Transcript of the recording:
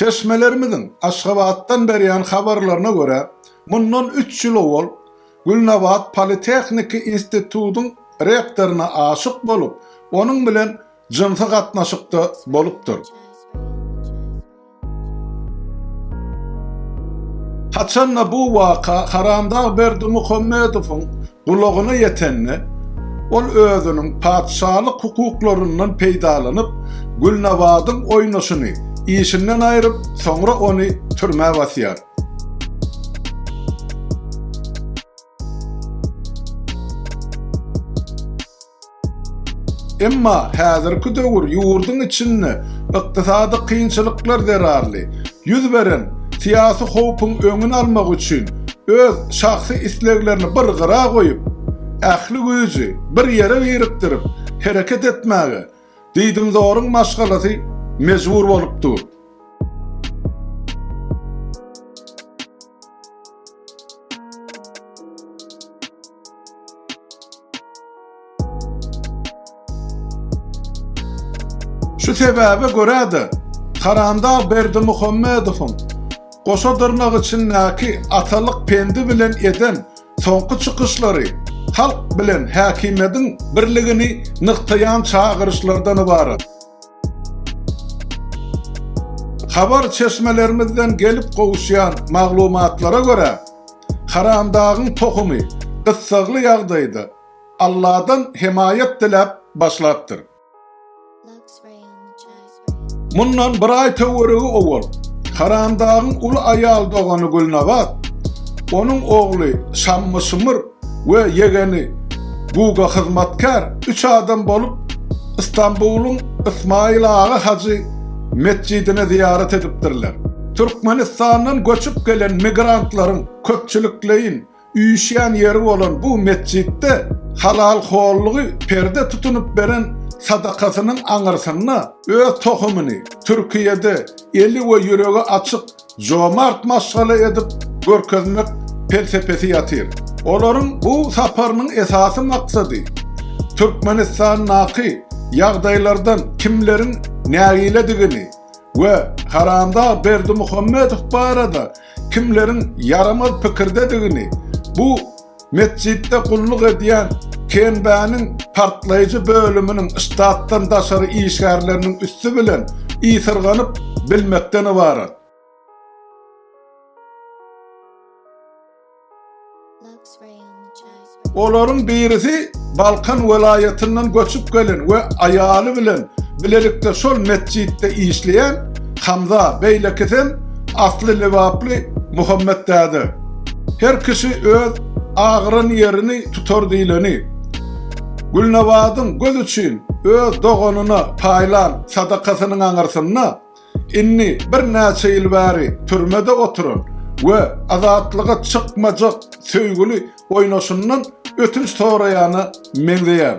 Çeşmelerimiziň Aşgabatdan berýän habarlaryna görä, mundan üç ýyl owal Gülnabat politehniki institutyň rektoryna aşyk bolup, onuň bilen jynsy gatnaşykda bolupdyr. Haçan-da bu waka Haramdag Berdimuhamedowyň Gulagyna ýetende, ol özüniň patyşalyk hukuklaryndan peýdalanyp, Gülnabadyň oýnaşyny işinden aýryp, soňra ony türmä basýar. Emma häzirki döwür ýurduň içinde ykdysady kynçylyklar zerarly ýüz beren syýasy howpuň öňüni almak üçin öz şahsy isleglerini bir gyra goýup, ähli güýji bir ýere birikdirip hereket etmäge diýdimzoryň maşgalasy mejbur bolup dur. Şu sebäbe görä-de, Karandag Berdimuhammedowyň goşa dyrnak içindäki atalyk pendi bilen eden soňky çykyşlary halk bilen häkimiýetiň birligini nygtaýan çagyryşlardan ybarat. Habar çeşmelerimizden gelip gowuşýan maglumatlara görä, Haramdagyň tohumy gyssagly ýagdaýda Alladan hemaýat diläp başlapdyr. Mundan bir aý töweregi owal Haramdagyň uly aýal dogany Gülnabat, onuň ogly Şammyşmyr we ýegeni Guga hyzmatkär üç adam bolup Istanbulyň Ysmaýyl aga hajy metjidine zyýarat edipdirler. Türkmenistandan göçüp gelen migrantlaryň köpçülikleýin üýşýän ýeri bolan bu metjitde Halal Hollygy perde tutunyp beren sadakasynyň aňyrsynda öz tohumyny Türkiýede eli we ýüregi açyk jomart maşgala edip görkezmek pelsepesi ýatyr. Olaryň bu saparynyň esasy maksady Türkmenistandaky ýagdaýlardan kimleriň nägiledigini we Haramdag Berdimuhamedow barada kimleriň ýaramaz pikirdedigini bu Metjitde gulluk edýän KNB-niň partlaýjy bölüminiň ştatdan daşary işgärleriniň üsti bilen ysyrganyp bilmekden ybarat. Olaryň birisi Balkan welaýatyndan göçüp gelen we aýaly bilen bilelikde şol metjitde işleýän Hamza, beýlekisem asly lebaply Muhammet däde. Her kişi öz agyran ýerini tutar diýleni. Gülnabadyň göz üçin öz doganyna paýlan sadakasynyň aňyrsynda indi birnäçe ýyl bäri türmede oturan we azatlyga çykmajak söýgüli oýnaşyndan ötünç soraýana meňzeýär.